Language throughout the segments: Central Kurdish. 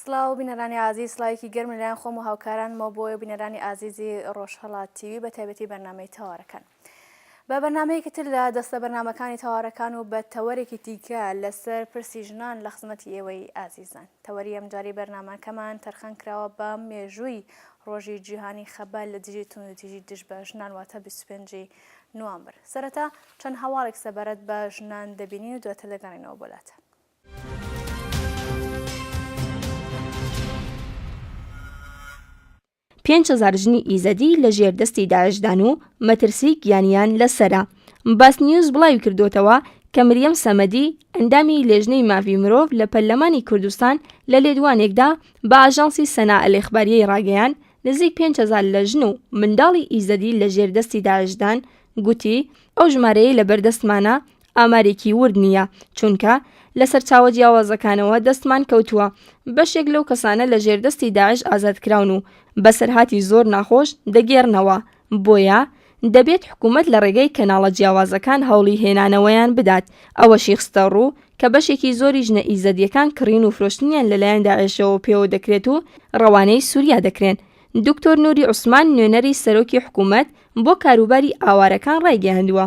سڵاو بینەرانی ئازیز سڵاوێکی گەرم لەلایەن خۆم و هاوکارانمەوە بۆیە بینەرانی ئازیزی ڕۆژهەڵات تیوی بە تایبەتی بەرنمەی تەوارەکان بە بەرنمەیەکی تر لە دەستە بەرنمەکانی تەوارەکان و بە تەوەرێکی دیکە لەسەر پرسی ژنان لە خزمەتی ئێوەی ئازیزان تەوەری ئەمجاری بەرنمەکەمان تەرخان کراوە بە مێژووی ڕۆژی جیهانی خەبال لە دژی توندوتیژی دژ بە ژنان واتە 25 نوامبر سەرەتا چەند هەواڵێک سەبارەت بە ژنان دەبینین و دواتر دەگەڕینەوە بۆلاتە پێنج هەزار ژنی ئیزەدی لە ژێر دەستی داعشدان و مەترسی گیانیان لەسرە باس نیوز بڵاوی کردوتەوە کە مریەم سەمەدی ئەندامی لێژنەی ماڤی مرۆڤ لە پەرلەمانی کوردستان لە لێدوانێکدا بە ئاژانسی سەنا ئەلێخباریەی ڕاگەیان نزیک 500 لە ژن و منداڵی ئیزەدی لە ژێر دەستی داعشدان گوتی ئەو ژمارەیە لە بەردەستمانە ئامارێکی ورد نییە، چونکە لە سەرچاوە جیاوازەکانەوە دەستمان کەوتووە بەشێک لەو کەسانە لە ژێر دەستی داعش ئازادکراون و بەسەرهاتی زۆر ناخۆش دەگێڕنەوە، بۆیە دەبێت حکومەت لە ڕێگەی کەناڵە جیاوازەکان هەوڵی هێنانەوەیان بدات، ئەوەشی خستەڕوو کە بەشێکی زۆری ژنە ئیزەدییەکان کڕین و فرۆشتنیان لەلایەن داعشەوە پێوە دەکرێت و ڕەوانەی سوریا دەکرێن. دکتۆر نوری عوسمان نوێنەری سەرۆکی حکومەت بۆ کاروباری ئاوارەکان ڕایگەیاندووە،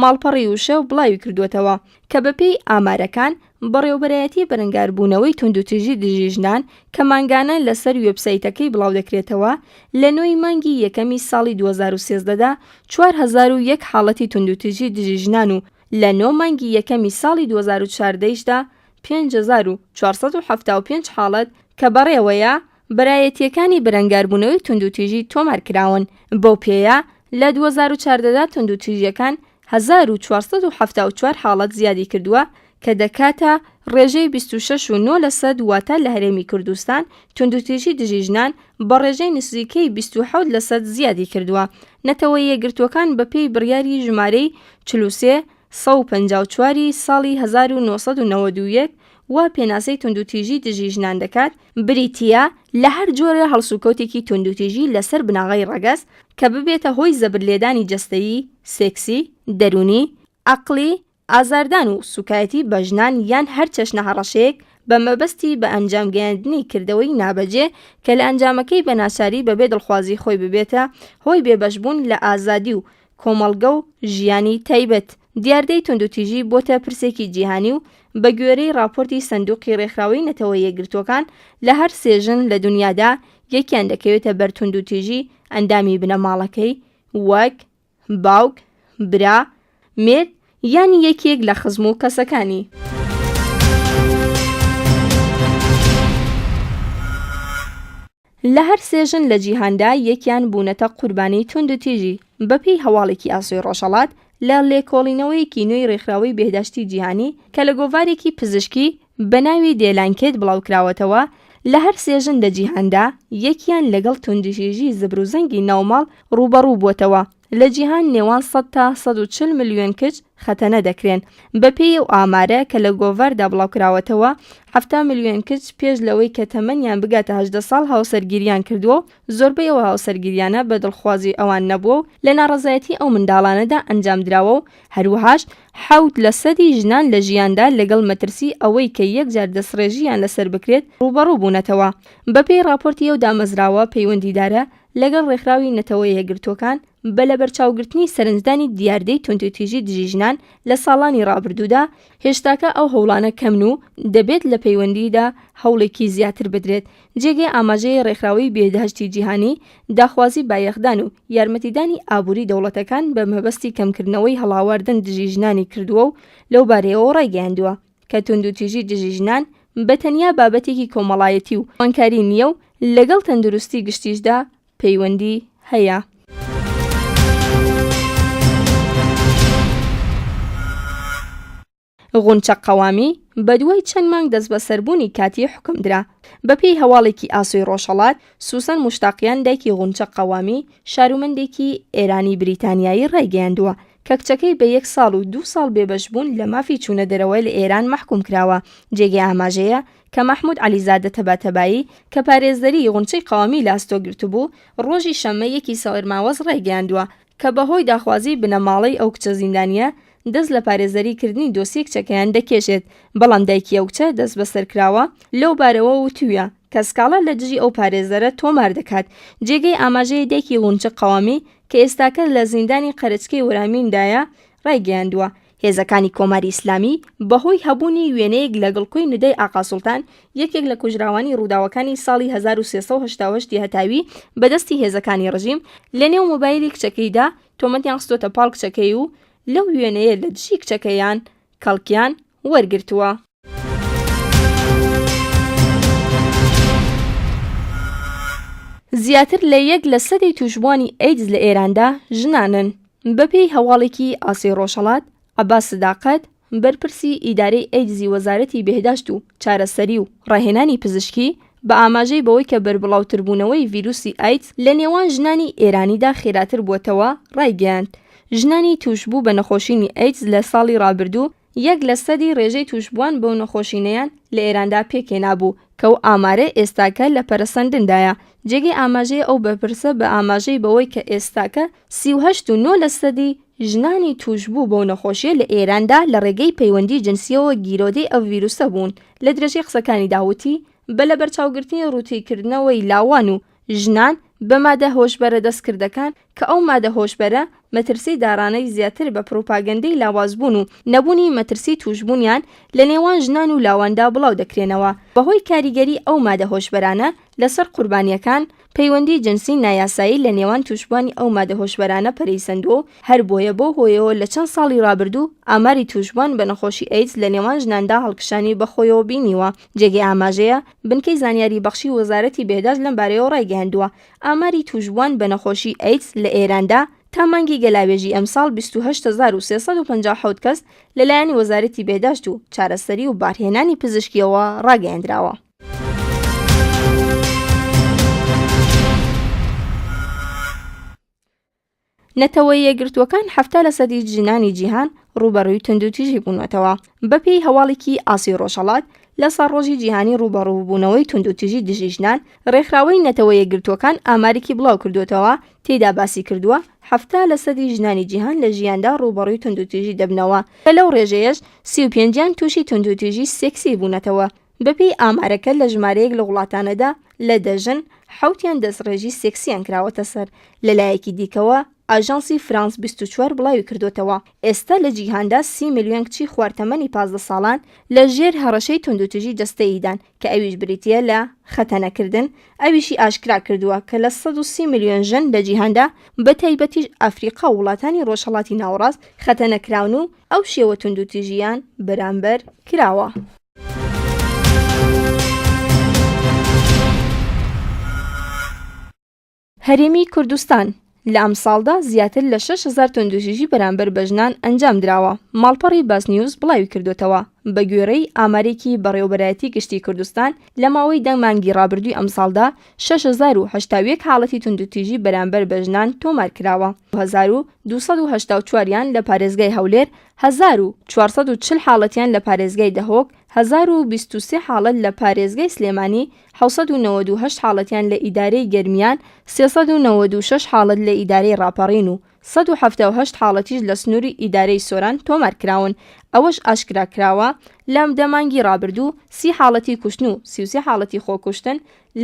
ماڵپەڕی وشە بڵاویکردووەتەوە، کە بەپێی ئامارەکان، بەڕێوەبەرایەتی بەرەنگاربوونەوەی توندوتیژی دژی ژنان کە مانگانە لەسەر وێبسایتەکەی بڵاودەکرێتەوە، لە نۆی مانگی یەکەمی ساڵی دوو هەزار و سێزدە دا چوار هەزار و یەک حاڵەتی توندوتیژی دژی ژنان و لە نۆ مانگی یەکەمی ساڵی دوو هەزار و چواردە یش دا پێنج هەزار و چوار سەد و حەفتا و پێنج حاڵەت کە بەڕێوەیە برایەتییەکانی بەرەنگاربوونەوەی توندوتیژی تۆمار کراون، بەو پێیە لە دوو هەزار و چواردە دا توندوتیژییەکان هەزار و چوار سەد و حەفتا و چوار حاڵەت زیادی کردووە کە دەکاتە ڕێژەی بیست و شەش و نۆ لەسەد واتە لە هەرێمی کوردستان توندوتیژی دژی ژنان بە ڕێژەی نزیکەی بیست و حەوت لەسەد زیادی کردووە نەتەوە یەکگرتووەکان بەپێی بڕیاری ژمارەی چل و سێ سەد و پەنجا و چوار ی ساڵی هەزار و نۆ سەد و نەوەد و یەک وا پێناسەی توندوتیژی دژی ژنان دەکات، بریتییە لە هەر جۆرە هەڵسوکەوتێکی توندوتیژی لەسەر بناغەی ڕەگەز کە ببێتە هۆی زەبرلێدانی جەستەیی، سێکسی، دەروونی، عەقڵی، ئازاردان و سووکایەتی بە ژنان یان هەر چەشنە هەڕەشەیەک بە مەبەستی بە ئەنجام گەیاندنی کردەوەی نابەجێ کە لە ئەنجامەکەی بە ناچاری بەبێ دڵخوازی خۆی ببێتە هۆی بێبەشبوون لە ئازادی و کۆمەڵگە و ژیانی تایبەت دیاردەی توندوتیژی بۆتە پرسێکی جیهانی و بەگوێرەی ڕاپۆرتی سندوقی ڕێکخراوەی نەتەوە یەکگرتووەکان لە هەر سێ ژن لە دونیادا یەکیان دەکەوێتە بەر توندوتیژی ئەندامی بنەماڵەکەی وەک، باوک، برا، مێرد یان یەکێک لە خزم و کەسەکانی. لە هەر سێ ژن لە جیهاندا یەکیان بوونەتە قوربانیی توندوتیژی. بەپێی هەواڵێکی ئاسۆی ڕۆژهەڵات، لە لێکۆڵینەوەیەکی نوێی ڕێکخراوەی بێهداشتی جیهانی کە لە گۆڤارێکی پزیشکی بە ناوی دێلانکێت بڵاوکراوەتەوە، لە هەر سێ ژن لە جیهاندا یەکیان لەگەڵ توندوتیژی زبروزەنگی ناوماڵ ڕووبەڕوو بووەتەوە. لە جیهان نێوان سەد تا سەد و چل ملیۆن کچ خەتەنە دەکرێن. بەپێی ئەو ئامارە کە لە گۆڤاردا بڵاوکراوەتەوە، حەفتا ملیۆن کچ پێش لەوەی کە تەمەنیان بگاتە هەژدە ساڵ هاوسەرگیریان کردووە و زۆربەی ئەو هاوسەرگیریانە بە دڵخوازی ئەوان نەبووە و لە ناڕەزایەتی ئەو منداڵانەدا ئەنجامدراوە و هەروەهاش حەوت لە سەدی ژنان لە ژیاندا لەگەڵ مەترسی ئەوەی کە یەکجار دەستڕێژییان لەسەر بکرێت ڕووبەڕوو بوونەتەوە. بەپێی ڕاپۆرتی ئەو دامەزراوە پەیوەندیدارە، لەگەڵ ڕێکخراوی نەتەوە یەکگرتووەکان بە لەبەرچاوگرتنی سەرنجدانی دیاردەی توندوتیژی دژی ژنان لە ساڵانی ڕابردوودا، هێشتاکە ئەو هەوڵانە کەمن و دەبێت لە پەیوەندیدا هەوڵێکی زیاتر بدرێت، جێگەی ئاماژەیە ڕێکخراوەی بێهدهشتی جیهانی داخوازی بایەخدان و یارمەتیدانی ئابووری دەوڵەتەکان بە مەبەستی کەمکردنەوەی هەڵاواردن دژی ژنانی کردووە و لەوبارەیەوە ڕایگەیاندووە، کە توندوتیژی دژی ژنان بە تەنیا بابەتێکی کۆمەڵایەتی و جوانکاری نییە و لەگەڵ تەندروستی گشتیشدا پەیوەندی هەیە. غونچە قەوامی بە دوای چەند مانگ دەستبەسەربوونی کاتی حوکم درا. بەپێی هەواڵێکی ئاسۆی ڕۆژهەڵات، سوسەن موشتاقیان دایکی غونچە قەوامی، شارومەندێکی ئێرانی-بریتانیایی ڕایگەیاندووە، کە کچەکەی بە یەک ساڵ و دوو ساڵ بێبەشبوون لە مافی چوونە دەرەوە لە ئێران مەحکووم کراوە، جێگەی ئاماژەیە کە مەحموود عەلیزادە تەباتەبایی کە پارێزەری غونچەی قەوامی لە ئەستۆ گرتبوو، ڕۆژی شەممە یەکی سەرماوەز ڕایگەیاندووە کە بە هۆی داخوازیی بنەماڵەی ئەو کچە زیندانییە دەست لە پارێزەری کردنی دۆسیەی کچەکەیان دەکێشێت، بەڵام دایکی ئەو کچە دەستبەسەر کراوە، لەو بارەوە وتوویە کە سکاڵا لە دژی ئەو پارێزەرە تۆمار دەکات، جێگەی ئاماژەیە دایکی غونچە قەوامی، کە ئێستاکە لە زیندانی قەرەچکەی ورامیندایە، ڕایگەیاندووە، هێزەکانی کۆماری ئیسلامی بەهۆی هەبوونی وێنەیەک لە گڵکۆی ندای ئاقا سوڵتان، یەکێک لە کوژراوانی ڕووداوەکانی ساڵی هەزار و سێ سەد و هەشتا و هەشت ی هەتاوی بە دەستی هێزەکانی ڕژیم لەنێو مۆبایلی کچەکەیدا تۆمەتیان خستۆتە پاڵ کچەکەی و لەو وێنەیە لە دژی کچەکەیان کەڵکیان وەرگرتووە. زیاتر لە یەک لە سەدی تووشبووانی ئەیدز لە ئێراندا ژنانن. بەپێی هەواڵێکی ئاسەی ڕۆژهەڵات، عەباس سداقەت، بەرپرسی ئیدارەی ئەیدزی وەزارەتی بێهداشت و چارەسەری و ڕاهێنانی پزیشکی، بە ئاماژەی بەوەی کە بەربڵاوتربوونەوەی ڤیروسی ئایدز لە نێوان ژنانی ئێرانیدا خێراتر بووەتەوە، ڕایگەیاند، ژنانی تووشبوو بە نەخۆشینی ئەیدز لە ساڵی ڕابردوو یەک لە سەدی ڕێژەی تووشبووان بەو نەخۆشینەیان لە ئێراندا پێکهێنابوو کە ئەو ئامارە ئێستاکە لە پەرەسەندندایە. جێگەی ئاماژەیە ئەو بەرپرسە بە ئاماژەی بەوەی کە ئێستاکە سی و هەشت و نۆ لەسەدی ژنانی تووشبوو بەو نەخۆشییە لە ئێراندا لە ڕێگەی پەیوەندی جنسییەوە گیرۆدەی ئەو ڤیرووسە بوون. لە درێژەی قسەکانیدا وتی، بە لەبەرچاوگرتنی ڕووتیکردنەوەی لاوان و ژنان بە مادە هۆشبەرە دەستکردەکان کە ئەو مادە هۆشبەرە مەترسی داڕانەی زیاتر بە پڕوپاگەندەی لاوازبوون و نەبوونی مەترسی تووشبوونیان لە نێوان ژنان و لاواندا بڵاو دەکرێنەوە بەهۆی کاریگەری ئەو مادە هۆشبەرانە لەسەر قوربانییەکان، پەیوەندیی جنسی نایاسایی لە نێوان تووشبووانی ئەو مادە هۆشبەرانە پەرەی سەندووە و هەربۆیە بەو هۆیەوە لە چەند ساڵی ڕابردوو ئاماری تووشبووان بە نەخۆشی ئەیدز لە نێوان ژناندا هەڵکشانی بەخۆیەوە بینیوە. جێگەی ئاماژەیە، بنکەی زانیاری بەخشی وەزارەتی بێهداشت لەم بارەیەوە ڕایگەیاندووە، ئاماری تووشبووان بە نەخۆشی ئەیدز لە ئێراندا تا مانگی گەلاوێژی ئەمساڵ بیست و هەشت هەزار و سێ سەد و پەنجا و حەوت کەس لەلایەن وەزارەتی بێهداشت و چارەسەری و بارهێنانی پزیشکییەوە ڕاگەیەندراوە. نەتەوە یەگرتووەکان هەفتا لە سەدی ژنانی جیهان ڕوبەڕووی توندوتیژی بوونەتەوە بەپێی هەواڵێکی ئاسی ڕۆژەڵات لە سەرڕۆژی جیهانی ڕوبەڕووبوونەوەی توندوتیژی دژی ژنان ڕێکخراوەی نەتەوە یەگرتووەکان ئامارێکی بڵاو کردوێتەوە تێدا باسی کردووە هەفتا لە سەدی ژنانی جیهان لە ژیاندا ڕوبەڕووی توندوتیژی دەبنەوە کە لەو ڕێژەیەش سی و پێنجیان تووشی توندوتیژی سێکسی بوونەتەوە بەپێی ئامارەکە لە ژمارەیەک لە وڵاتانەدا لە دە ژن حەوتیان دەستڕێژی سێکسییان کراوەتە سەر، لەلایەکی دیکەوە، ئاژانسی فرانس بیست و چوار بڵاویکردووەتەوە، ئێستا لە جیهاندا سی ملیۆن کچی خوار تەمەنی پازدە ساڵان لە ژێر هەڕەشەی توندوتیژی جەستەییدان کە ئەویش بریتییە لە خەتەنەکردن، ئەویشی ئاشکرا کردووە کە لە سەد و سی ملیۆن ژن لە جیهاندا بەتایبەتیش ئەفریقا و وڵاتانی ڕۆژهەڵاتی ناوەڕاست خەتەنەکراون و ئەو شێوە توندوتیژییان بەرامبەر کراوە. هەرێمی کوردستان لە ئەمساڵدا زیاتر لە 6هزار تۆندوژیژی بەرامبەر بە ژنان ئەنجام دراوە ماڵپەڕی باس نیوز بڵاوی کردوێتەوە بە گوێڕەی ئامارێکی بەڕێوبەرایەتی گشتی کوردستان لە ماوەی دە مانگی ڕابردووی ئەمساڵدا 6هزار حاڵەتی توندوتیژی بەرامبەر بە ژنان تۆمار کراوە 2284یان لە پارێزگای هەولێر هەزار و چوار سەد و چل حاڵەتیان لە پارێزگای دهۆک، هەزار و بیست و سێ حاڵەت لە پارێزگای سلێمانی، حەوت سەد و نەوەد و هەشت حاڵەتیان لە ئیدارەی گەرمیان، سێ سەد و نەوەد و شەش حاڵەت لە ئیدارەی ڕاپەڕین و سەد و حەفتا و هەشت حاڵەتیش لە سنووری ئیدارەی سۆران تۆمارکراون، ئەوەش ئاشکراکراوە، لە دە مانگی ڕابردوو سی حاڵەتی کوشتن و سی و سێ حاڵەتی خۆکوشتن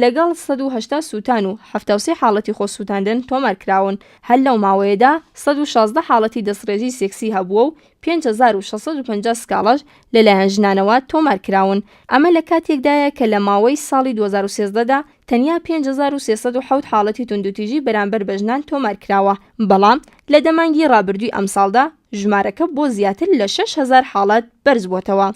لەگەڵ سەد و هەشتا سووتان و حەفتا و سێ حاڵەتی خۆسووتاندن تۆمار کراون، هەر لەو ماوەیەدا سەد و شازدە حاڵەتی دەستڕێژی سێکسی هەبووە و پێنج هەزار و شەش سەد و پەنجا سکاڵاش لەلایەن ژنانەوە تۆمار کراون، ئەمە لە کاتێکدایە کە لە ماوەی ساڵی دوو هەزار و سێزدە دا تەنیا پێنج هەزار و سێ سەد و حەوت حاڵەتی توندوتیژی بەرامبەر بە ژنان تۆمار کراوە، بەڵام لە دە مانگی ڕابردووی ئەمساڵدا، ژمارەکە بۆ زیاتر لە شەش هەزار حاڵەت بەرزبووەتەوە.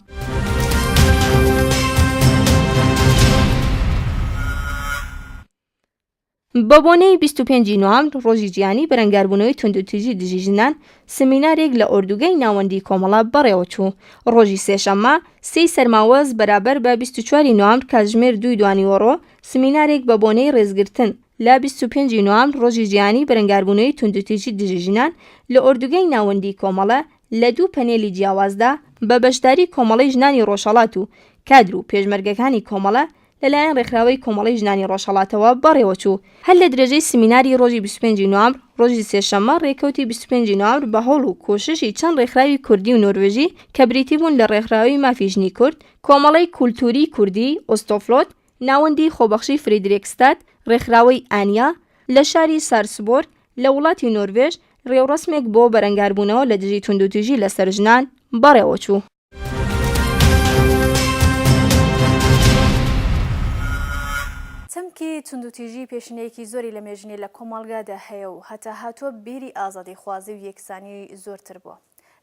بە بۆنەی 25 ی نوامبر ڕۆژی جیهانی بەرەنگاربوونەوەی توندوتیژی دژی ژنان سمینارێک لە ئۆردوگای ناوەندی کۆمەڵە بەڕێوەچوو ڕۆژی سێشەممە سێی سەرماوەز بەرابەر بە 24 ی نوامبر کاتژمێر دووی دوانیوەڕۆ سمینارێک بە بۆنەی ڕێزگرتن لە بیست و پێنج ی نوام ڕۆژی جیهانی بەرەنگاربوونەوەی توندوتیژی دژی ژنان لە ئۆردوگای ناوەندیی کۆمەڵە لە دوو پەنێلی جیاوازدا بە بەشداریی کۆمەڵەی ژنانی ڕۆژهەڵات و کادر و پێشمەرگەکانی کۆمەڵە لە لایەن ڕێکخراوەی کۆمەڵەی ژنانی ڕۆژهەڵاتەوە بەڕێوە چوو. هەر لە درێژەی سمیناری ڕۆژی بیست و پێنج ی نوامبر ڕۆژی سێشەممە ڕێکەوتی بیست و پێنج ی نوامبر بە هەوڵ و کۆششی چەند ڕێکخراوی کوردی و نۆروێژی کە بریتی بوون لە ڕێکخراوی مافی ژنی کورد، کۆمەڵەی کولتووریی کوردی ئۆستۆفلۆت، ناوەندی خۆبەخشی فریدریکستاد، ڕێکخراوەی ئانیا، لە شاری سارسبۆرگ لە وڵاتی نۆروێژ ڕێوڕەسمێک بۆ بەرەنگاربوونەوە لە دژی توندوتیژی لەسەر ژنان بەڕێوەچوو. چەمکی توندوتیژی پێشینەیەکی زۆری لە مێژنی لە کۆمەڵگادا هەیە و هەتاهاتووە بیری ئازادیخوازی و یەکسانی زۆرتر بووە.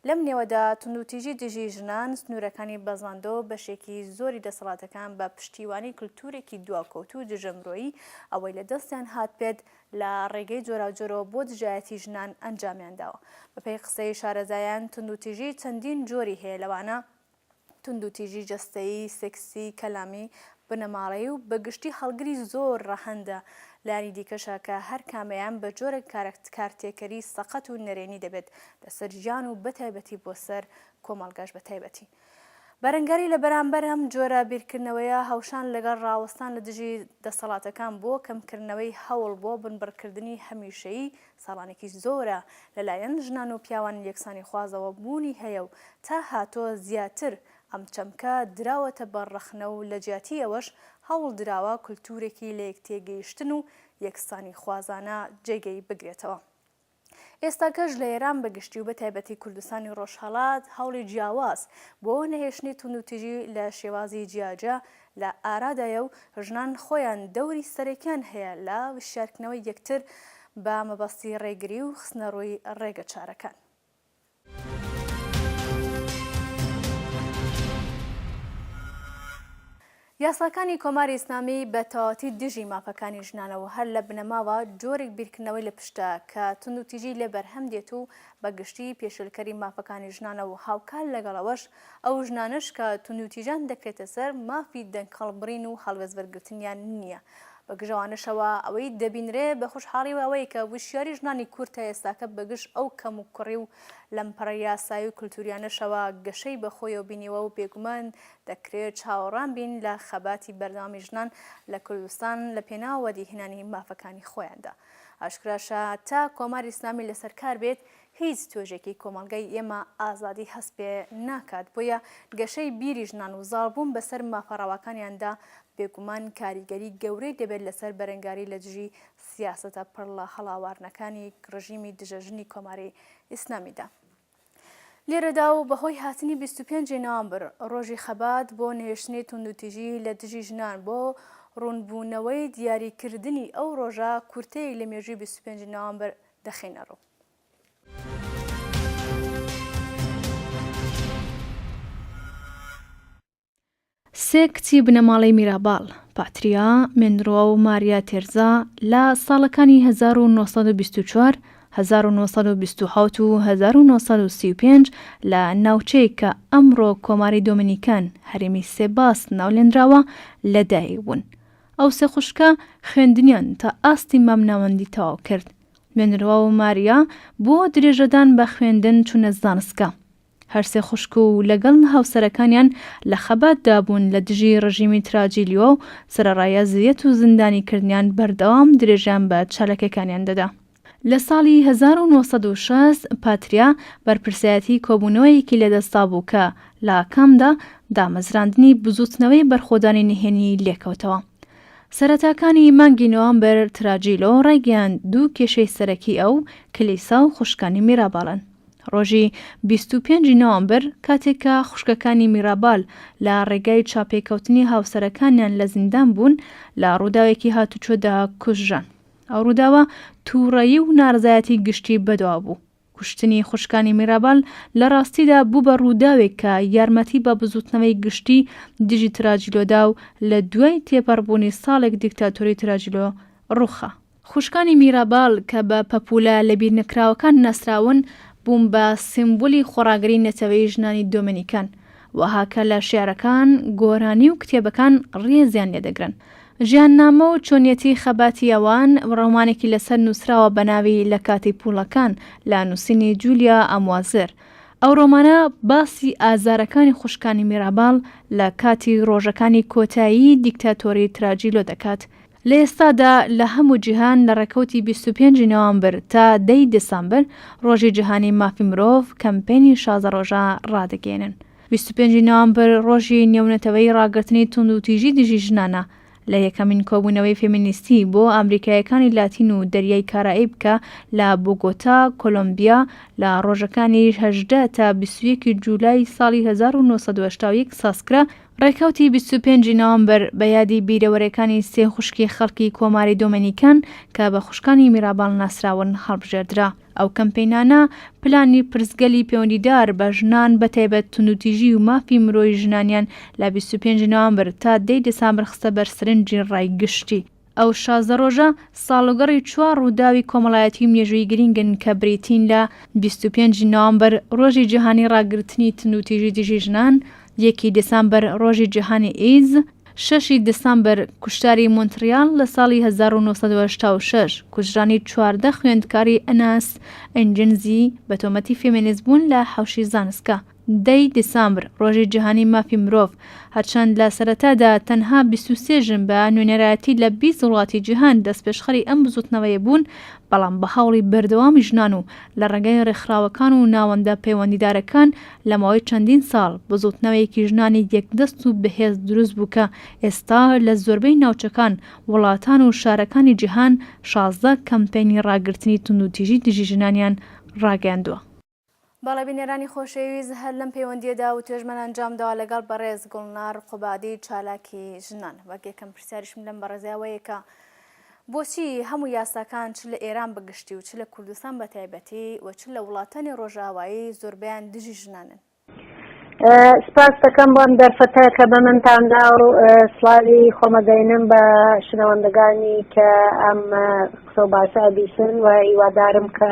لەم نێوەدا توندوتیژی دژی ژنان سنوورەکانی بەزاندەوە و بەشێکی زۆری دەسەڵاتەکان بە پشتیوانی کلتوورێکی دواکەوتوو و دژە مرۆیی ئەوەی لە دەستیان هاتبێت لە ڕێگەی جۆراوجۆرەوە بۆ دژایەتی ژنان ئەنجامیان داوە. بەپێی قسەی شارەزایان توندوتیژی چەندین جۆری هەیە لەوانە. توندوتیژی جەستەیی، سێکسی، کەلامی، بنەماڵەیی و بە گشتی هەڵگری زۆر ڕەهەندە لانی دیکەشە کە هەر کامەیان بە جۆرێک کارەکت کارتێکەری سەقەت و نەرێنی دەبێت لەسەر ژیان و بە تایبەتی بۆ سەر کۆمەڵگاش بە تایبەتی بەرەنگاری لە بەرامبەر ئەم جۆرە بیرکردنەوەیە هەوشان لەگەڵ ڕاوەستان لە دژی دەسەڵاتەکان بۆ کەمکردنەوەی هەوڵ بۆ بنبڕکردنی هەمیشەیی ساڵانێکی زۆرە لەلایەن ژنان و پیاوان یەکسانیخوازەوە بوونی هەیە و تا هاتووە زیاتر ئەم چەمکە دراوەتە بەر ڕەخنە و لە جیاتی ئەوەش هەوڵ دراوە کولتوورێکی لەیەکتێگەیشتن و یەکسانیخوازانە جێگەی بگرێتەوە. ئێستاکەش لە ئێران بە گشتی و بە تایبەتی کوردستانی ڕۆژهەڵات هەوڵی جیاواز بۆ نەهێشتنی توندوتیژی لە شێوازی جیاجیا لە ئارادایە و ژنان خۆیان دەوری سەرەکیان هەیە لە وشیارکردنەوەی یەکتر بە مەبەستی ڕێگری و خستنە ڕووی ڕێگە چارەکان. یاساکانی کۆماری ئیسلامی بە تەواوەتی دژی مافەکانی ژنانە و هەر لە بنەماوە جۆرێک بیرکردنەوەی لە پشتە کە توندوتیژی لێ بەرهەم دێت و بە گشتی پێشێلکەری مافەکانی ژنانە و هاوکات لەگەڵەوەش ئەو ژنانەش کە توندوتیژان دەکرێتە سەر، مافی دەنگ هەڵبڕین و هەڵوێست وەرگرتنیان نییە. بە گژەوانەشەوە ئەوەی دەبینرێ بە خوشحاڵیەوە ئەوەیە کە وشیاری ژنانی کورد تا ئێستاکە بە گژ ئەو کەموکوڕی و لەمپەڕە یاسایی و کلتوریانەشەوە گەشەی بە خۆیەوە بینیوە و بێگومان دەکرێ چاوەڕان بین لە خەباتی بەردەوامی ژنان لە کوردستان لە پێناو وەدیهێنانی مافەکانی خۆیاندا. ئاشکراشە تا کۆماری ئیسلامی لەسەر کار بێت هیچ توێژێکی کۆمەڵگەی ئێمە ئازادی هەست پێ ناکات، بۆیە گەشەی بیری ژنان و زاڵبوون بەسەر مافە ڕەواکانیاندا بێگومان کاریگەری گەورەی دەبێت لەسەر بەرەنگاری لە دژی سیاسەتە پڕ لە هەڵاواردنەکانی ڕژیمی دژە ژنی کۆماری ئیسلامیدا. لێرەدا و بەهۆی هاتنی بیست و پێنج ی نوامبر، ڕۆژی خەبات بۆ نەهێشتنی توندوتیژی لە دژی ژنان، بۆ ڕوونبوونەوەی دیاریکردنی ئەو ڕۆژە کورتەیەک لە مێژووی بیست و پێنج ی نوامبر دەخەینە ڕوو. سێ کچی بنەماڵەی میراباڵ، پاتریا، مێنرۆ و ماریا تێرزا لە ساڵەکانی 1924، 1927 و 1935 لە ناوچەیەک کە ئەمڕۆ کۆماری دۆمینیکان، هەرێمی سێباس ناولێنراوە، لەدایکبوون. ئەو سێ خوشکە خوێندنیان تا ئاستی مامناوەندی تەواو کرد نوێنروا و ماریا بۆ درێژەدان بە خوێندن چوونە زانستگا. هەرسێ خوشک و لەگەڵ هاوسەرەکانیان لە خەباتدا بوون لە دژی ڕژیمی تراجیلیۆ و سەرەڕای ئەزیەت و زیندانیکردنیان بەردەوام درێژەیان بە چالاکیەکانیان دەدا. لە ساڵی هەزار و نۆ سەد و شەست پاتریا بەرپرسایەتی کۆبوونەوەیەکی لەدەستدابوو کە لە ئاکامدا دامەزراندنی بزووتنەوەی بەرخۆدانی نهێنی لێکەوتەوە. سەرەتاکانی مانگی نۆامبر تراجیلۆ ڕایگەیاند دوو کێشەی سەرەکی ئەو، کلیسا و خوشکانی میرابالن. ڕۆژی بیست و پێنج نۆامبر کاتێک کە خوشکەکانی میرابال لە ڕێگای چاپێکەوتنی هاوسەرەکانیان لە زیندان بوون لە ڕووداوێکی هاتوچۆدا کوژران. ئەو ڕووداوە تووڕەیی و نارەزایەتی گشتی بەدوا بوو. کوشتنی خوشکانی میرابال لە ڕاستیدا بوو بە ڕووداوێک کە یارمەتی بە بزووتنەوەی گشتی دژی تراجیلۆ دا و لە دوای تێپەڕبوونی ساڵێک دیکتاتۆری تراجیلۆ ڕووخا. خوشکانی میرابال کە بە پەپوولە لەبیرنەکراوەکان ناسراون، بوون بە سیمبولی خۆڕاگری نەتەوەیی ژنانی دۆمینیکان. وەها کە لە شیعرەکان، گۆرانی و کتێبەکان ڕێزیان لێ دەگرن. ژیاننامە و چۆنیەتی خەباتی ئەوان، ڕۆمانێکی لەسەر نووسراوە بە ناوی لە کاتی پووڵەکان، لە نووسینی جولیا ئەموازر. ئەو ڕۆمانە باسی ئازارەکانی خوشکانی میراباڵ لە کاتی ڕۆژەکانی کۆتایی دیکتاتۆری تراجیلۆ دەکات، لە ئێستادا لە هەموو جیهان لە ڕێکەوتی بیست و پێنج ی نۆامبر تا دە ی دسامبر ڕۆژی جیهانی مافی مرۆڤ کەمپەینی شازە ڕۆژە ڕادەگەیەنن. بیست و پێنج ی نۆامبر ڕۆژی نێونەتەوەیی ڕاگرتنی توندوتیژی دژی ژنانە لە یەکەمین کۆبوونەوەی فێمینیستی بۆ ئامریکاییەکانی لاتین و دەریای کارائیب کە لە بۆگۆتا، کۆلۆمبیا لە ڕۆژەکانی هەژدە تا بیست و یەک ی جولای ساڵی هەزار و نۆ سەد و هەشتا و یەک سازکرا ڕێکەوتی بیست و پێنج ی نوامبر بە یادی بیرەوەرێکانی سێ خوشکی خەڵکی کۆماری دۆمێنیکان کە بە خوشکانی میراباڵ ناسراون هەڵبژێردرا. ئەو کەمپینانە پلانی پرسگەلی پێوەندیدار بە ژنان بە تایبەت توندوتیژی و مافی مرۆیی ژنانیان لە بیست و پێنج ی نوامبر تا دە ی دسامبر خستە بەر سرنجی ڕای گشتی. ئەو شازدە ڕۆژە ساڵوگەڕی چوار ڕووداوی کۆمەڵایەتی و مێژووی گرینگن کە بریتین لە بیست و پێنج نۆمبەر ڕۆژی جیهانی ڕاگرتنی توندوتیژی دژی ژنان، یەکی دسامبەر ڕۆژی جیهانی ئیدز، شەشی دسامبەر کوشتاری مونتڕیاڵ لە ساڵی هەزار و نۆ سەد و هەشتا و شەش، کوژرانی چواردە خوێندکاری ئەناس ئینجنزی بە تۆمەتی فێمێنیست بوون لە حەوشی زانسکە. دە ی دیسامبر، ڕۆژی جیهانی مافی مرۆڤ، هەرچەند لە سەرەتادا تەنها بیست و سێ ژن بە نوێنەرایەتی لە بیست وڵاتی جیهان دەستپێشخەری ئەم بزووتنەوەیە بوون، بەڵام بە هەوڵی بەردەوامی ژنان و لە ڕێگای ڕێکخراوەکان و ناوەندە پەیوەندیدارەکان لە ماوەی چەندین ساڵ بزووتنەوەیەکی ژنانی یەکدەست و بەهێز دروست بوو کە ئێستا لە زۆربەی ناوچەکان، وڵاتان و شارەکانی جیهان شازدە کەمپەینی ڕاگرتنی توندوتیژی دژی ژنانیان ڕاگەیاندووە. بەڵێ بینەرانی خۆشەویست هەر لەم پەیوەندیەدا وتوێژمان ئەنجامداوە لەگەڵ بەڕێز گوڵنار قوبادی چالاکی ژنان وەک یەکەم پرسیاریشم لەم بەڕێزیاوەیەکە بۆچی هەموو یاساکان چ لە ئێران بەگشتی و چ لە کوردستان بە تایبەتی و چ لە وڵاتانی ڕۆژاوایی زۆربیان دژی ژنانن سپاس دەکەم بۆم دەرفەتە کە بە منتاندا و سلاوی خۆمەدەینم بە شنەوەندەگانی کە ئەم قسە و باسە بیسن و هیوادارم کە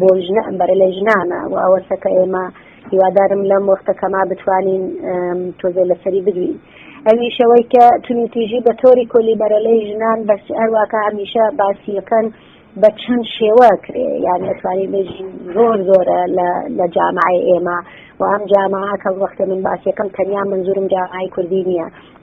بۆ ژنە ئەمبەرە لە ژنانە و ئەوەسە کە ئێمە هیوادارم لەم وەختە کەما بتوانین تۆزێ لەسەری بدوین ئەمیشەوەی کە تونوتیژی بە تۆری کۆلی بەرەلەی ژنان بەس هەرواکە هەمیشە باسیەکەن بە چەند شێوە کرێ یان دەتوانین بێژین زۆر زۆرە لە جامعی ئێمە و ئەم جامعە کە وەختە من باسیەکەم تەنیا منزورم جامعی کوردی نییە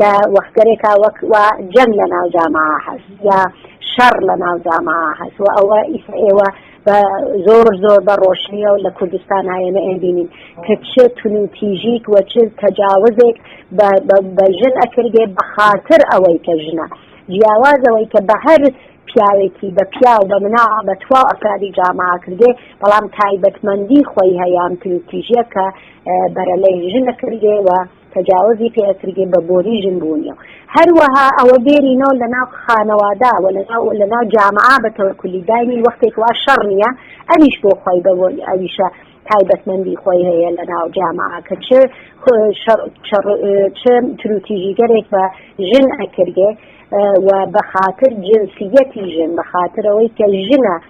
لە وەختگەرێکا وەک وا جەنگ لە ناو جامعە هەست یا شەڕ لە ناو جامعە هەست و ئەوە ئیسە ئێوە بە زۆر زۆر بە ڕۆشنیە و لە کوردستان هاێنە ئەبینین کە چ تونوتیژیک وە چ تەجاوزێک بە ژن ئەکردێ بە خاطر ئەوەی کە ژنە جیاوازەوەی کە بە هەر پیاوێکی بە پیاو بە منا بە توا ئەفرادی جامع کردێ بەڵام تایبەتمەندی خۆی هەیان تروتیژە کە بەرەلەی ژنە کردێەوە تەجاوزی پێ ئەکرێ بە بۆنی ژن بوونی و هەروەها ئەوە بێرینەوە لە ناو خانەوادا و لە ناو جامعا بە تەوە کولی داینی وەختێک وا شەڕ نییە ئەویش بۆ خۆی بە بۆنی ئەویشە تایبەتمەندی خۆی هەیە لە ناو جامعا کە چ چ تروتیژیگەرێک بە ژن ئەکردێ و بە خاطر جنسیەتی ژن بە خاطرەوەی کە ژنە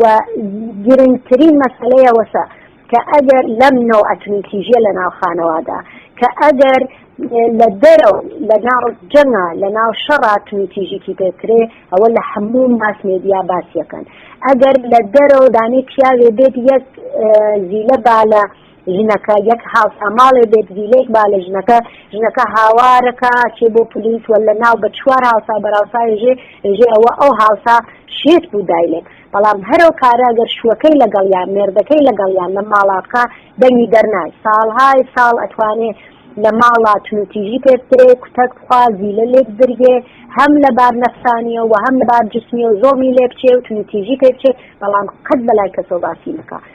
و گرنگترین مەسلەیە وەسە کە ئەگەر لەم نەوە ئەتنیکیژە لە ناو خانەوادا کە ئەگەر لە دەرەوە لە ناو جەنگا لە ناو شەڕات و تیژیکی پێکرێ ئەوە لە هەموو ماس مێدیا باسیەکەن ئەگەر لە دەرەوە دانی پیاوێ بێت یەک زیلە بالە ژنەکە یەک هاوساماڵێ بێت زیلێک با لە ژنەکە ژنەکە هاوارەکە چێ بۆ پلیس وە لە ناو بە چوار هاوسا بەراوساێژێ ژێ ئەوە ئەو هاوسا شێت بوو دایلێت بەڵام هەرو کارە گەر شوەکەی لەگەڵ یان مێردەکەی لەگەڵ یان لە ماڵا بکە دەنگی دەرنای ساڵهای ساڵ ئەتوانێ لە ماڵا تونوتیژی پێسترێ کوتەک بخوا زیلە لێک درگێ هەم لە بار نەفسانیە و هەم لە بار جسمی و زۆمی لێ بچێ و تونوتیژی پێ بچێ بەڵام قەت بەلای کەسۆ باسی نکە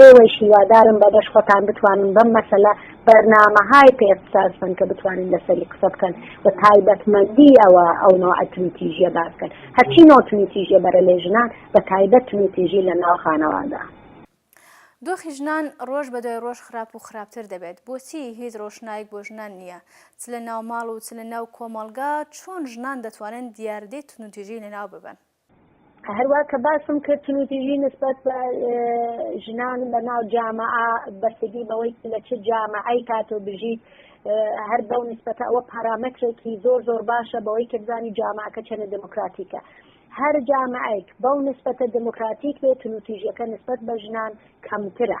ئێوەیش هیوادارم بە بەش خۆتان بتوانن بەم مەسەلە بەرنامەهای پێ اختصاص بن کە بتوانن لەسەری قسە بکەن و تایبەتمەندی ئەوە ئەو نوع تویتیژیە باس بکەن هەرچی نوع تویتیژیە بەرە لێ ژنان بە تایبەت تویتیژی لە ناو خانەوادە. دۆخی ژنان ڕۆژ بە دوای ڕۆژ خراپ و خراپتر دەبێت بۆچی هیچ ڕۆشنایەک بۆ ژنان نییە چ لە ناو ماڵ و چ لە ناو کۆمەڵگا چۆن ژنان دەتوانن دیاردەی توندوتیژی لەناو ببەن؟ هەروا کە باسم کرد تونوتیژی نسبەت بە ژنان لە ناو جامعە بەستگی بەوەی لە چ جامعەی کات و بژیت هەر بەو نسبەتە ئەوە پارامەترێکی زۆر زۆر باشە بەوەی کە بزانی جامعەکە چەنە دموکراتیکە هەر جامعەیەک بەو نسبەتە دموکراتیک بێت تونوتیژەکە نسبەت بە ژنان کەمترە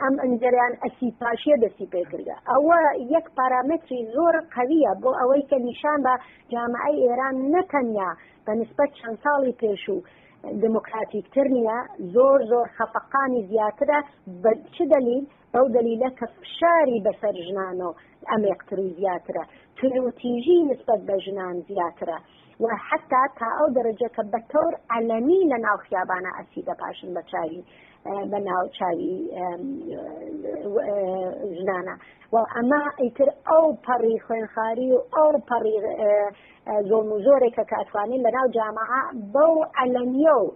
ئەم ئەنجەریان ئەسی پاشیە دەسی پێکردە ئەوە یەک پارامتری زۆر قویە بۆ ئەوەی کە نیشان بە جامعی ئێران نەتەنیا بە نسبەت چەند ساڵی پێشوو دموکراتیکتر نییە زۆر زۆر خەفەقانی زیاترە بە چ دەلیل بەو دەلیلە کە فشاری بەسەر ژنانەوە ئەمێقتر و زیاترە تونوتیژی نسبەت بە ژنان زیاترە و حەتتا تا ئەو دەرەجە کە بە تەور عەلەنی لە ناو خیابانا ئەچیتە پاشن بە چاوی بە ناو چاوی ژنانە و ئەمە ئیتر ئەو پەڕی خوێنخاری و ئەو پەڕی زۆڵم و زۆرێکە کە ئەتوانین لە ناو جامعە بەو عەلەنیە و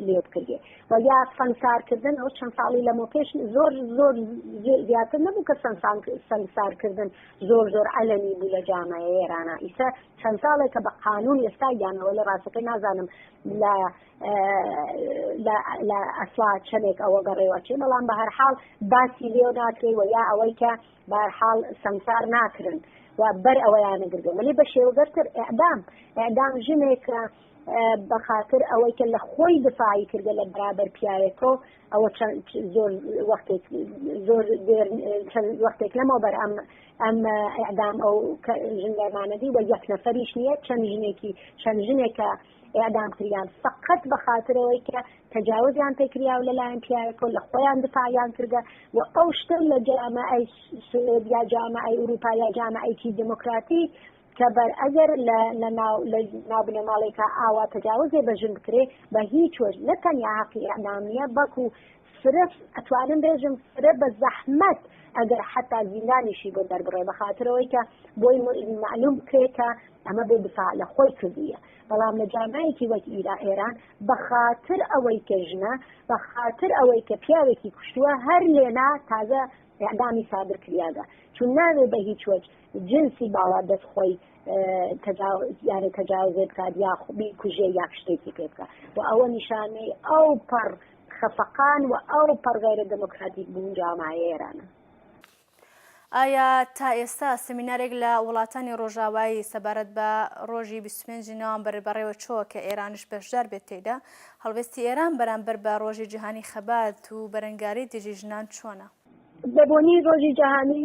لێت کردێ و یا سەنگسارکردن ئەو چەند ساڵی لەمە پێش زۆر زۆر زیاتر نەبوو کە سەنگسارکردن زۆر زۆر ئەلەنی بوو لە جامعە ئێرانە ئیسە چەند ساڵێک کە بە قانون ئێستا گیانەوە لە ڕاستەکەی نازانم لە لە ئەسڵا چەندێک ئەوە گەڕێوەچێ بەڵام بە هەرحاڵ باسی لێو ناکرێ و یا ئەوەی کە بارحاڵ سەنگسار ناکرن و بەر ئەوەیان نەگردێ مەلی بە شێوەگەرتر ئەعدام ئەعدام ژنێکە بە خاتر ئەوەی کە لە خۆی دفاعی کردە لە بەرابەر پیاوێکۆ ئەوە زۆر وەختێک زۆر چەند وەختێک لەمەوە بەر ئەم ئەم ئەدام ئەو ژن دەرمانەدی وە یەک نەفەریش نییە چەند ژنێکی چەند ژنێکە ئەدام کریان فقط بە خاترەوەی کە تەجاوزیان پێکریا و لەلایەن پیاەکە لە خۆیان دفاعیان کردە و ئەو شتە لە جامە ئەی سوێد یا جامە ئەی ئوروپا یا جامە ئەیکی دموکراتی کە بەر ئەگەر لە لە ناو لە ناو بنەماڵێکا ئاوا تەجاوزێ بە ژن بکرێ بە هیچ وەژ نە تەنیا هەقی ئەعدام نییە بەڵکو فرە ئەتوانم بێژم فرە بە زەحمەت ئەگەر حتا زیندانیشی بۆ دەربڕێ بە خاطرەوەی کە بۆی معلوم بکرێت کە ئەمە بێ دفاع لە خۆی کردویە بەڵام لە جامایەکی وەک ئیرا ئێران بە خاطر ئەوەی کە ژنە بە خاطر ئەوەی کە پیاوێکی کوشتووە هەر لێنا تازە ئەعدامی سادر کریاگە چون ناوێ بە هیچ وەج جنسی باڵا دەست خۆی تەجاوزێ بکات یا بیکوژێ یا شتێکی پێ بکات و ئەوە نیشانەی ئەو پەڕ خەفەقان و ئەو پەڕ غیرە دەموکراتیک بوون جامایە ئێرانە. ئایا تا ئێستا سمینارێک لە وڵاتانی ڕۆژاوایی سەبارەت بە ڕۆژی 25 نوامبەر بەڕێوە چۆوە کە ئێرانش بەشدار بێت تێیدا؟ هەڵوێستی ئێران بەرامبەر بە ڕۆژی جیهانی خەبات و بەرەنگاری دژی ژنان چۆنە؟ بە بۆنەی ڕۆژی جیهانی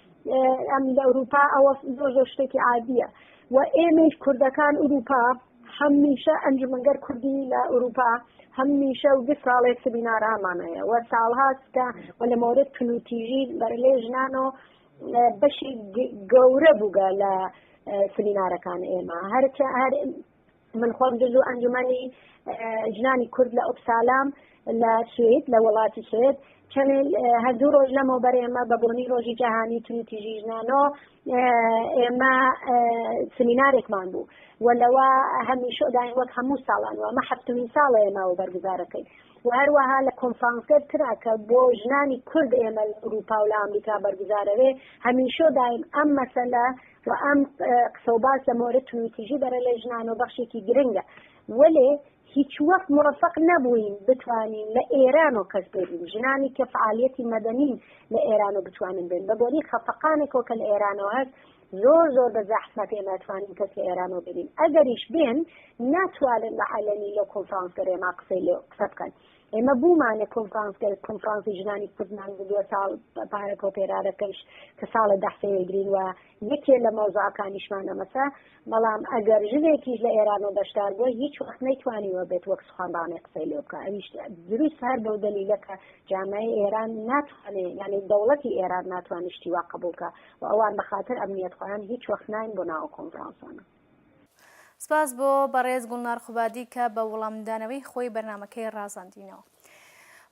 ئەم لە ئەوروپا ئەوە زۆر زۆر شتێکی عادیە و ئێمەش کوردەکان ئەوروپا هەمیشە ئەنجومەنگەر کوردی لە ئەوروپا هەمیشە و دو ساڵێ سبینارامانەیە و ساڵهاستکە و لە مۆرد تونوتیژی بەرلێ ژنان و بەشی گەورە بووگە لە سبینارەکان ئێمە هەر من خۆم جزو ئەنجومەنی ژنانی کورد لە ئۆپسالام لە سوید لە وڵاتی سوید چەنێل هەردوو ڕۆژ لەمەو بەر ئێمە بە بۆنی ڕۆژی جیهانی تونوتیژی ژنانۆ ئێمە سمینارێکمان بوو و لەوە هەمیشەداین وەک هەموو ساڵان و ئەمە هەفتمین ساڵە ئێمەوە بەرگزارەکەین و هەروەها لە کۆنفرانسەر ترا کە بۆ ژنانی کورد ئێمە ئەوروپا و لە ئەمریکا بەرگزارەوێ هەمیشەداین ئەم مەسەلە وە ئەم قسە و باس لە مۆرە توندوتیژی بەرە لای ژنانەوە بەخشێکی گرنگە وەلێ هیچوەخت موەفەق نەبووین بتوانین لە ئێرانەوە کەس بێنین ژنانی کە فعالیەتی مەدەنین لە ئێرانەوە بتوانن بێن بە بۆنەی خەفەقانێکەوە کە لە ئێرانەوە هەست زۆر زۆر بە زەحمەت ئێمە توانین کەس لە ئێرانەوە بێنین ئەگەریش بێن ناتوانن بە عەلەنی لەو کۆنفرانسە رێما قسەی لێ قسە بکەن ئێمە بوومانە کۆنفرانسگەر کۆنفرانسی ژنانی کوردمان بووە ساڵ پارە کۆپێرارەکەش کە ساڵە دەحسەیەگرین و یەکێ لە مەوزعەکانیشمان ئەمەسە بەڵام ئەگەر ژنێکیش لە ئێرانەوە بەشدار بووە هیچ وەخت نەیتوانیوە بێت وەک سخانڕانێ قسەی لێ بکە ئەویش دروست هەر بەو دەلیلەکە جامای ئێران ناتوانێ یعنی دەوڵەتی ئێران ناتوانشتی وا قبولکە و ئەوان بەخاتر ئەمنیەت خۆیان هیچ وەخت ناین بۆ ناوە کۆنفرانسانە سپاس بۆ بەڕێز گوڵنار قوبادی کە بە وڵامدانەوەی خۆی بەرنمەکەی ڕازاندینەوە.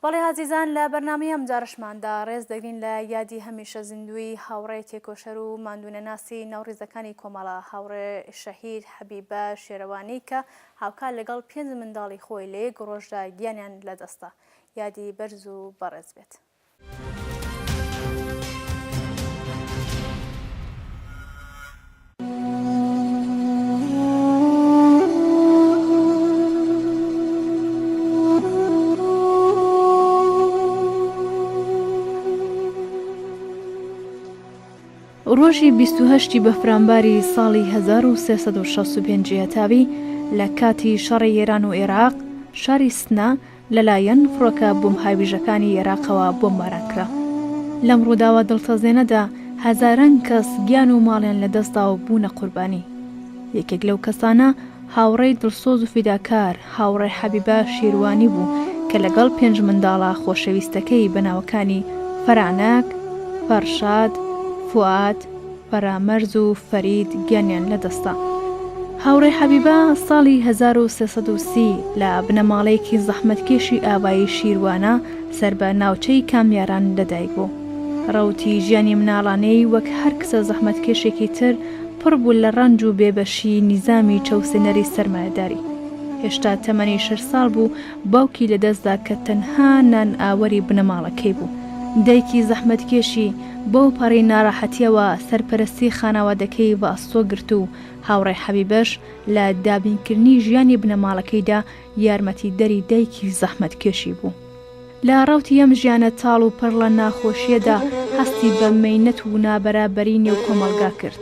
بەڵێ ئازیزان لە بەرنامی ئەم جارشماندا ڕێز دەگرین لە یادی هەمیشە زیندووی هاوڕێ تێکۆشەر و ماندوونەناسی ناوڕیزەکانی کۆمەڵە هاوڕێ شەهید حەبیبە شێرەوانی کە هاوکار لەگەڵ پێنج منداڵی خۆی لە یەک ڕۆژدا گیانیان لەدەستدا یادی بەرز و بەڕێز بێت. ڕۆژی بیست و هەشتی بەفرانباری ساڵی هەزار و سێ سەد و شەست و پێنج جیهتاوی لە کاتی شەڕی ئێران و ئێراق شاری سنە لەلایەن فڕۆکە بۆمبهاویژەکانی ئێراقەوە بۆمباران کرا. لەم ڕووداوە دڵتەزێنەدا هەزاران کەس گیان و ماڵیان لەدەستدا و بوونە قوربانی. یەکێک لەو کەسانە هاوڕێی دڵسۆز و فیداکار هاوڕێ حەبیبە شیروانی بوو کە لەگەڵ پێنج منداڵە خۆشەویستەکەی بە ناوەکانی فەرانەک، فەرشاد، فوئاد، فەرامەرز و فەرید گیانیان لەدەستدا. هاوڕێ حەبیبە ساڵی هەزار و سێ سەد و سی لە بنەماڵەیەکی زەحمەتکێشی ئاوایی شیروانە سەر بە ناوچەی کامیاران لەدایک بوو. ڕەوتی ژیانی مناڵانەی وەک هەر کچە زەحمەتکێشێکی تر پڕ بوو لە ڕەنج و بێبەشیی نیزامی چەوسێنەری سەرمایەداری. هێشتا تەمەنی شەش ساڵ بوو باوکی لەدەستدا کە تەنها نان ئاوەری بنەماڵەکەی بوو، دایکی زەحمەتکێشی بەو پەڕی ناڕەحەتیەوە سەرپەرستی خانەوادەکەی ڤاستۆ گرت و هاوڕێ حەبیبەش لە دابینکردنی ژیانی بنەماڵەکەیدا یارمەتیدەری دایکی زەحمەتکێشی بوو. لە ڕەوتی ئەم ژیانە تاڵ و پڕ لە ناخۆشیەدا هەستی بە مەینەت و نابەرابەری نێو کۆمەڵگا کرد،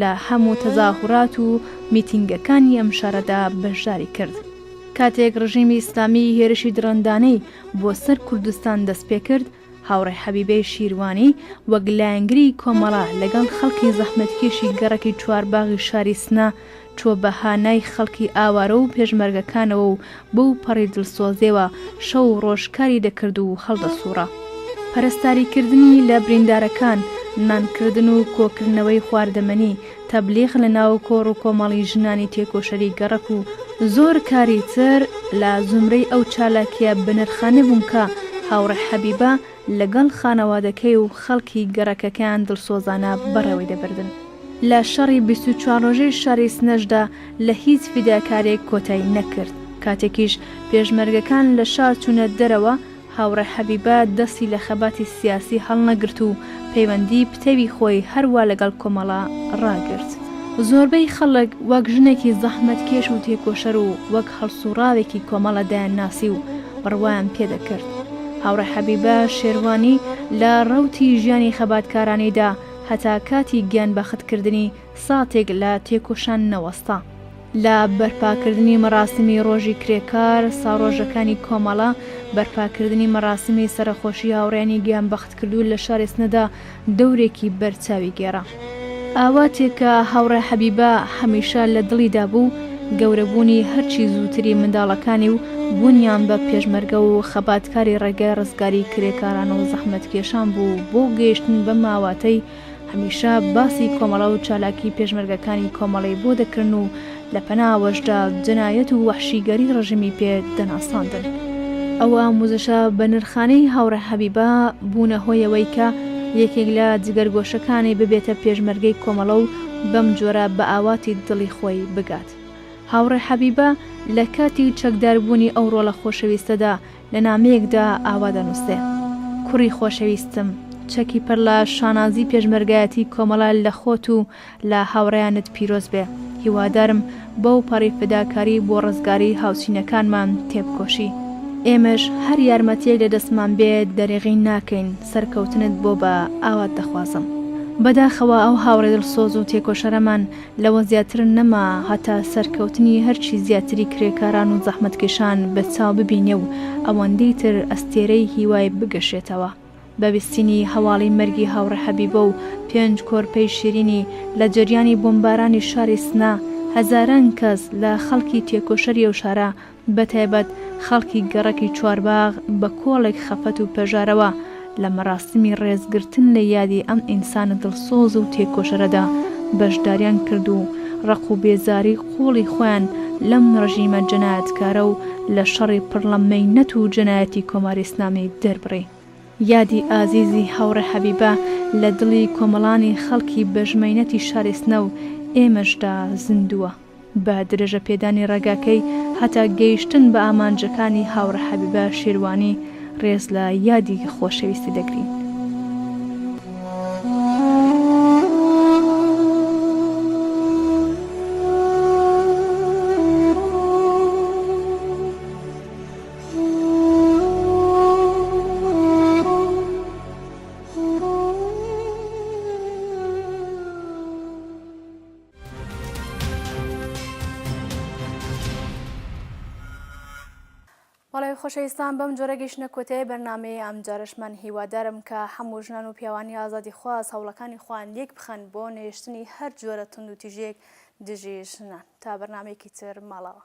لە هەموو تەزاهورات و میتینگەکانی ئەم شارەدا بەشداری کرد. کاتێک ڕژیمی ئیسلامی هێرشی دڕندانەی بۆ سەر کوردستان دەست پێ کرد، هاوڕێ حەبیبەی شیروانی وەک لایەنگری کۆمەڵە لەگەڵ خەڵکی زەحمەتکێشی گەڕەکی چوارباغی شاری سنە چووە بە هانای خەڵکی ئاوارە و پێشمەرگەکانەوە و بەو پەڕی دڵسۆزێوە شەو و ڕۆژ کاری دەکرد و هەڵدەسووڕا. پەرستاریکردنی لە بریندارەکان، نانکردن و کۆکردنەوەی خواردەمەنی، تەبلیغ لە ناو کۆڕ و کۆمەڵی ژنانی تێکۆشەری گەڕەک و زۆر کاری تر لە زومرەی ئەو چالاکییە بەنرخانە بوون کە هاوڕێ حەبیبە لەگەڵ خانەوادەکەی و خەڵکی گەڕەکەکەیان دڵسۆزانە بەڕێوەی دەبردن. لە شەڕی بیست و چوار ڕۆژەی شاری سنەشدا لە هیچ فیداکارێک کۆتای نەکرد کاتێکیش پێشمەرگەکان لە شار چوونە دەرەوە هاوڕێ حەبیبە دەستی لە خەباتی سیاسی هەڵنەگرت و پەیوەندی پتەوی خۆی هەر وا لەگەڵ کۆمەڵە ڕاگرت. زۆربەی خەڵک وەک ژنێکی زەحمەتکێش و تێکۆشەر و وەک هەڵسووڕاوێکی کۆمەڵە دایانناسی و بڕوایان پێ دەکرد. هاوڕێ حەبیبە شێروانی لە ڕەوتی ژیانی خەباتکارانیدا هەتا کاتی گیانبەختکردنی، ساتێک لە تێکۆشان نەوەستا. لە بەرپاکردنی مەراسیمی ڕۆژی کرێکار، ساڕۆژەکانی کۆمەڵە، بەرپاکردنی مەراسیمی سەرەخۆشی هاوڕێیانی گیانبەختکردوو لە شاری سنەدا دەورێکی بەرچاوی گێڕا. ئاواتێک کە هاوڕێ حەبیبە هەمیشە لە دڵیدا بوو، گەورەبوونی هەرچی زووتری منداڵەکانی و بوونیان بە پێشمەرگە و خەباتکاری ڕێگای ڕزگاریی کرێکاران و زەحمەتکێشان بوو بۆ گەیشتن بەم ئاواتەی هەمیشە باسی کۆمەڵە و چالاکی پێشمەرگەکانی کۆمەڵەی بۆ دەکرن و لە پەناوەشدا جەنایەت و وەحشیگەری ڕژیمی پێ دەناساندن. ئەو ئاموزشە بە نرخانەی هاوڕێ حەبیبە بوونە هۆی ئەوەی کە یەکێک لە جگەرگۆشەکانی ببێتە پێشمەرگەی کۆمەڵە و بەم جۆرە بە ئاواتی دڵی خۆی بگات. هاوڕێ حەبیبە لە کاتی چەکداربوونی ئەو ڕۆڵە خۆشەویستەدا، لە نامەیەکدا ئاوا دەنووسێ، کوڕی خۆشەویستم، چەکی پڕ لە شانازی پێشمەرگایەتی کۆمەڵە لە خۆت و لە هاوڕێیانت پیرۆز بێ، هیوادارم بەو پەڕی فداکاری بۆ ڕزگاری هاوچینەکانمان تێبکۆشی. ئێمەش هەر یارمەتییەک لە دەستمان بێ دەریغی ناکەین، سەرکەوتنت بۆ بە ئاوات دەخوازم. بەداخەوە ئەو هاوڕێ دڵسۆز و تێکۆشەرەمان، لەوە زیاتر نەما هەتا سەرکەوتنی هەرچی زیاتری کرێکاران و زەحمەتکێشان بە چاو ببینێ و ئەوەندەی تر ئەستێرەی هیوای بگەشێتەوە بە ویستینی هەواڵی مەرگی هاوڕێ حەبیبە و پێنج کۆرپەی شیرینی لە جەریانی بۆمبارانی شاری سنە هەزاران کەس لە خەڵکی تێکۆشەری ئەو شارە بەتایبەت خەڵکی گەڕەکی چوارباغ بە کۆڵێک خەفەت و پەژارەوە لە مەراسیمی ڕێزگرتن لە یادی ئەم ئینسانە دڵسۆز و تێکۆشەرەدا بەشداریان کرد و ڕق و بێزاری قووڵی خۆیان لەم ڕژیمە جەنایەتکارە و لە شەڕی پڕ ڵە مەینەت و جەنایەتی کۆماری ئیسلامی دەربڕی. یادی ئازیزی هاوڕێ حەبیبە لە دڵی کۆمەڵانی خەڵکی بەژمەینەتی شاری سنە و ئێمەشدا زیندووە. بە درێژە پێدانی ڕێگاکەی هەتا گەیشتن بە ئامانجەکانی هاوڕێ حەبیبە شێروانی ڕێز لە یادی خۆشەویستی دەگرین. بەڵێ خۆشەویستان بەم جۆرە گەشتە کۆتای بەرنمەیە ئەم جارشمان هیوادارم کە هەموو ژنان و پیاوانی ئازادی خواز هەوڵەکانی خوان لێک بخەن بۆ نێشتنی هەر جۆرە تونند و تیژێک دژی ژنان تا بەرنمێکی تر ماڵەوە.